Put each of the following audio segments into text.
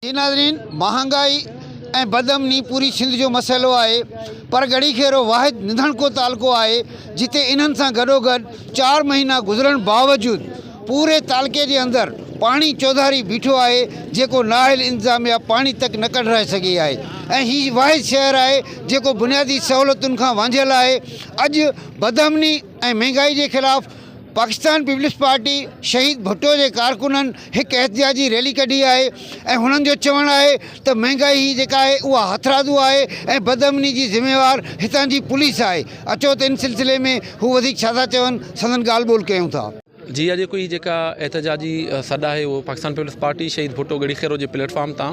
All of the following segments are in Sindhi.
جي ناظرين مهانگائي ۽ بد امني پوري سنڌ جو مسئلو آهي پر ڳڙهي کيرو واحد نڌڻڪو تعلقو آهي جتي انهن سان گڏوگڏ چار مهينا گذرڻ باوجود پوري تعلقي جي اندر پاڻي چوڌاري بيٺو آهي جيڪو نااهل انتظاميا پاڻي تڪ نه ڪڍرائي سگهي آهي ۽ هي واحد شهر آهي جيڪو بنيادي سهولتن کان وانجهيل آهي اڄ بدامني ۽ مهنگائي جي خلاف پاڪستان پيپلز پارٽي شهيد ڀٽو جي ڪارڪنن هڪ احتجاجي ريلي ڪڍي آهي ۽ هنن جو چوڻ آهي ته مهنگائي هي جيڪا آهي اها هٿرادو آهي ۽ بدامني جي ذميوار هتان جي پوليس آهي اچو ته ان سلسلي ۾ هو وڌيڪ ڇا ٿا چون سندن ڳالهه ٻولهه ڪيون ٿا. جي اڄوڪي هي جيڪا احتجاجي سڏ آهي اهو پاڪستان پيپلز پارٽي شهيد ڀٽو ڳڙهي خيرو جي پليٽ فارم تان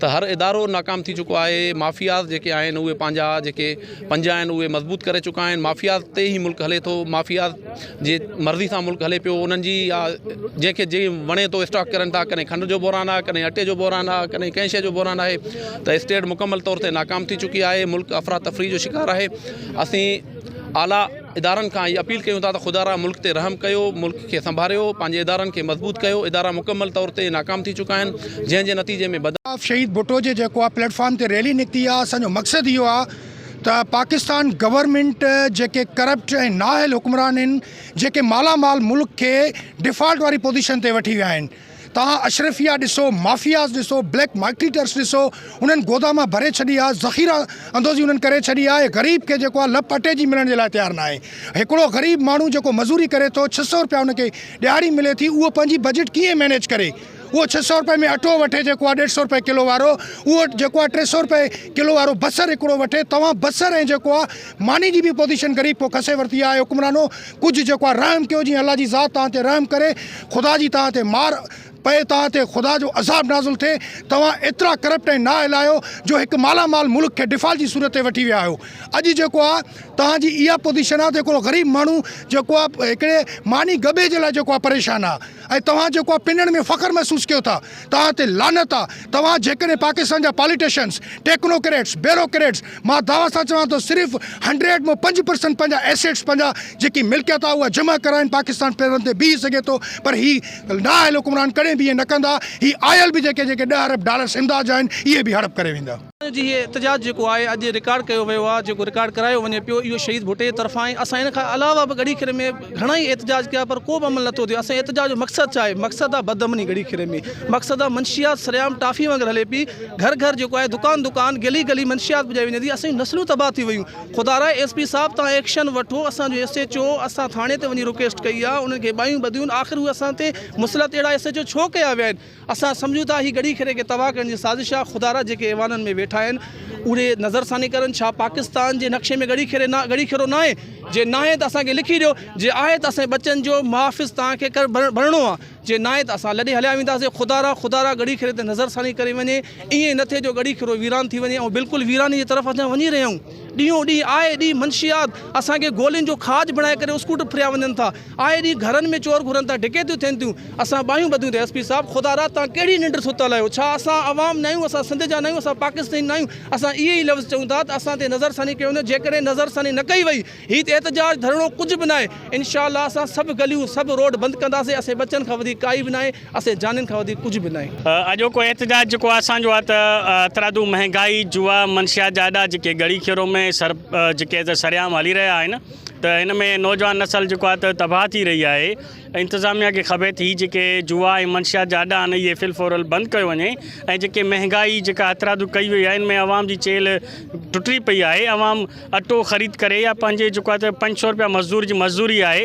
ته هر ادارو ناڪام ٿي چڪو آهي مافياز جيڪي آهن اهي پنهنجا جيڪي پنجا آهن اهي مضبوط ڪري چڪا آهن مافياز تي هي ملڪ هلي ٿو مافياز جي مرضي سان ملڪ هلي پيو انهن جي آ جيڪي جي وڻي ٿو اسٽاڪ ڪرن ٿا ڪڏهن کنڊ جو بحران آهي ڪڏهن اٽي جو بحران آهي ڪڏهن ڪنهن شيء جو بحران آهي ته اسٽيٽ مڪمل طور تي ناڪام ٿي چڪي آهي ملڪ افرا تفري جو شڪار آهي اسين اعليٰ ادارن کان اھي اپيل ڪيون ٿا ته خدا را ملڪ تي رحم ڪيو ملڪ کي سنڀاريو پنھنجي ادارن کي مضبوط ڪيو ادارا مڪمل طور تي ناڪام ٿي چڪا آھن جنھن جي نتيجي ۾ بدن خلاف شھيد ڀٽو جي جيڪو آ پليٽ فارم تي ريلي نڪتي آ اسان جو مقصد اھو آ ته پاڪستان گورنمينٽ جيڪي ڪرپٽ ۽ نااھل حڪمران ھن جيڪي مالا مال ملڪ کي ڊفالٽ واري پوزيشن تي وٺي ويا آھن توهان اشرفيا ڏسو، مافياز ڏسو، بليڪ مارڪيٽرس ڏسو، انهن گوداما ڀري ڇڏيا، ذخيره اندوزي انهن ڪري ڇڏي آهي، غريب کي جيڪو آهي لپ اٽي جي ملڻ جي لاء تيار ناهي. هڪڙو غريب ماڻهو جيڪو مزوري ڪري ٿو، ڇهه سؤ رپيا ان کي ڏهاڙي ملي ٿي، اهو پنهنجي بجيٽ ڪيئن مينيج ڪري؟ اهو ڇهه سؤ رپئي ۾ اٽو وٺي جيڪو آهي ڏيڍ سؤ رپئي ڪلو وارو، اهو جيڪو آهي ٽي سؤ رپئي ڪلو وارو بصر هڪڙو وٺي، توهان بصر ۽ جيڪو آهي. ماني جي به پوزيشن غريب کان کسي ورتي آهي حڪمرانو ڪجهه جيڪو آهي رحم ڪيو جيئن الله جي ذات توهان تي رحم ڪري خدا جي توهان تي مار پئي توهان تي خدا جو عذاب نازل ٿئي توهان ايترا ڪرپٽ ۽ نااهل آهيو جو هڪ مالا مال ملڪ کي ڊفالٽ جي صورت تي وٺي ويا آهيو اڄ جيڪو آهي توهان جي اها پوزيشن آهي ته هڪڙو غريب ماڻهو جيڪو آهي هڪڙي ماني ڳڀي جي لاء جيڪو آهي پريشان آهي. ۽ توهان جيڪو اها پنڻ ۾ فخر محسوس ڪيو ٿا توهان تي لعنت آ توهان جيڪڏهن پاڪستان جا پاليٽيشنس ٽيڪنوڪريٽس بيروڪريٽس مان دعويٰ سان چوان ٿو صرف هنڊريڊ مون پنج پرسنٽ پنهنجا ايسيٽس پنهنجا جيڪي ملڪيت آ اها جمع ڪرائين پاڪستان پيرن تي بيهي سگهي ٿو پر هي نااهل حڪمران ڪڏهن به ائين نه ڪندا هي آيل به جيڪي جيڪي ڏهه ارب ڊالرس امداد جا آهن اهي به هڙپ ڪري ويندا. ان جي هي احتجاج جيڪو آهي اڄ رڪارڊ ڪيو ويو آهي جيڪو رڪارڊ ڪرايو وڃي پيو اهو شهيد ڀٽي جي طرفان آهي اسان ان کان علاوه به ڳڙهي کيري ۾ گهڻا ئي احتجاج ڪيا پر ڪو به عمل نٿو ٿئي اسان احتجاج جو مقصد ڇا آهي مقصد آهي بد امني ڳڙهي کيري ۾ مقصد آهي منشيات سرعام ٽافي وانگر هلي پئي گهر گهر جيڪو آهي دڪان دڪان گلي گلي منشيات پڄائي وڃي ٿي اسان جون نسلون تباهه ٿي ويون خدا را ايس پي صاحب تان ايڪشن وٺو اسان جو ايس ايچ او اسان ٿاڻي تي وڃي رڪويسٽ ڪئي آهي انهن کي ٻاهيون ٻڌيون آخر اهي اسان تي مسلط اهڙا ايس ايچ او ڇو ڪيا ويا آهن اسان سمجهون ٿا هي ڳڙهي کيري کي تباهه ڪرڻ جي سازش آهي خدارا جيڪي ايوانن ۾ ويٺا آهن اهي نظر ثاني ڪرن ڇا پاڪستان جي نقشي ۾ ڳڙهي کيري نه ڳڙهي کيرو ناهي جي ناهي ته اسان کي لکي ڏيو جي آهي ته اسان ٻچن جو محافظ توهان کي بڻڻو آهي جي ناهي ته اسان لڏي هليا وينداسين خدارا خدارا ڳڙهي کيري تي نظر ثاني ڪري وڃي ائين نه ٿئي جو ڳڙهي کيرو ويران ٿي وڃي ۽ بلڪل ويراني جي طرف اسان وڃي رهيا آهيون ڏينهون ڏينهن آئي ڏينهن منشيات اسان کي گولين جو کاڄ بڻائي ڪري اسڪوٽ ڦريا وڃن ٿا آئي ڏينهن گهرن ۾ چور گهرن ٿا، ڊڪيتيون ٿين ٿيون، اسان ٻانهيون ٻڌيون ته ايس پي صاحب خدا را توهان ڪهڙي ننڊ ستل آهيو، ڇا اسان عوام ناهيون، اسان سنڌ جا ناهيون، اسان پاڪستاني ناهيون، اسان اهي ئي لفظ چئون ٿا ته اسان تي نظرثاني ڪيو وڃي، جيڪڏهن نظرثاني نه ڪئي وئي، هي ته احتجاج ڌرڻو ڪجهه به ناهي، انشاء الله اسان سڀ گليون، سڀ روڊ بند ڪنداسين، اسين ٻچن کان وڌيڪ ڪائي به ناهي، اسين جانين کان وڌيڪ ڪجهه به ناهي. اڄوڪو احتجاج جيڪو اسان جو آهي ته هٿرادو مهنگائي، جوا، منشيات جا اڏا جيڪي ڳڙي کيرو ۾ سر جيڪي ته سرعام هلي رهيا آهن، ته هن ۾ نوجوان نسل جيڪو آهي ته تباهه ٿي رهي آهي ۽ انتظاميا کي کپي ٿي هي جيڪي جوا ۽ منشيات جا اڏا آهن اهي فلفورل بند ڪيو وڃي ۽ جيڪي مهنگائي جيڪا هٿرادو ڪئي وئي آهي ان ۾ عوام جي چيلهه ٽٽي پئي آهي عوام اٽو خريد ڪري يا پنهنجي جيڪو آهي ته پنج سؤ روپيا مزدور جي مزدوري آهي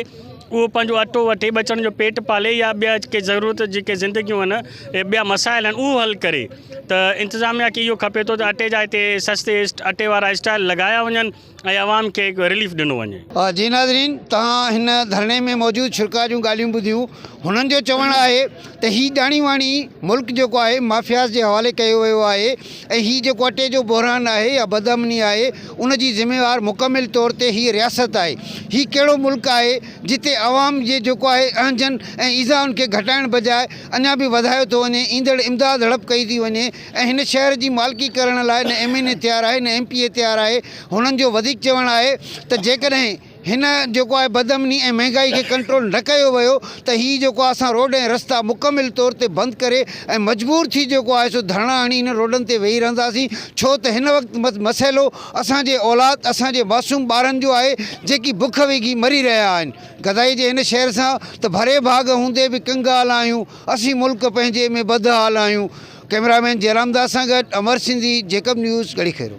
اهو پنهنجو اٽو وٺي ٻه چڻن جو پيٽ پالي يا ٻيا ڪي ضرورت جيڪي زندگيون آهن اهي ٻيا مسائل آهن اهو حل ڪري ته انتظاميا کي اهو کپي ٿو ته اٽي جا هتي سستي اٽي وارا اسٽال لڳايا وڃن ۽ عوام کي رليف ڏنو وڃي. جي ناظرين توهان هن ڌرڻي ۾ موجود شرڪاء جون ڳالهيون ٻڌيون هنن جو چوڻ آهي ته هي ڄاڻي واڻي ملڪ جيڪو آهي مافياز جي حوالي ڪيو ويو آهي ۽ هي جيڪو اٽي جو بحران آهي يا بدامني آهي ان جي ذميوار مڪمل طور تي هي رياست آهي هي ڪهڙو ملڪ آهي جتي عوام جي جيڪو آهي اهنجن ۽ ايذائن کي گهٽائڻ بجاء اڃا به وڌايو ٿو وڃي ايندڙ امداد هڙپ ڪئي ٿي وڃي ۽ هن شهر جي مالڪي ڪرڻ لاء نه ايم اين اي تيار آهي نه ايم پي اي تيار آهي هنن جو وڌيڪ چوڻ آهي ته جيڪڏهن هن جيڪو آهي بدامني ۽ مهنگائي کي ڪنٽرول نه ڪيو ويو ته هي جيڪو آهي اسان روڊ ۽ رستا مڪمل طور تي بند ڪري ۽ مجبور ٿي جيڪو آهي سو ڌرڻا هڻي هنن روڊن تي ويهي رهنداسين ڇو ته هن وقت مسئلو اسان جي اولاد اسان جي معصوم ٻارن جو آهي جيڪي بک وگهي مري رهيا آهن گدائي جي هن شهر سان ته ڀري ڀاڳ هوندي به ڪنگال آهيون. اسين ملڪ پنهنجي ۾ بد حال آهيون، ڪئميرا مين جئرام داس سان گڏ امر سنڌي، جيڪب نيوز، ڳڙهي خيرو.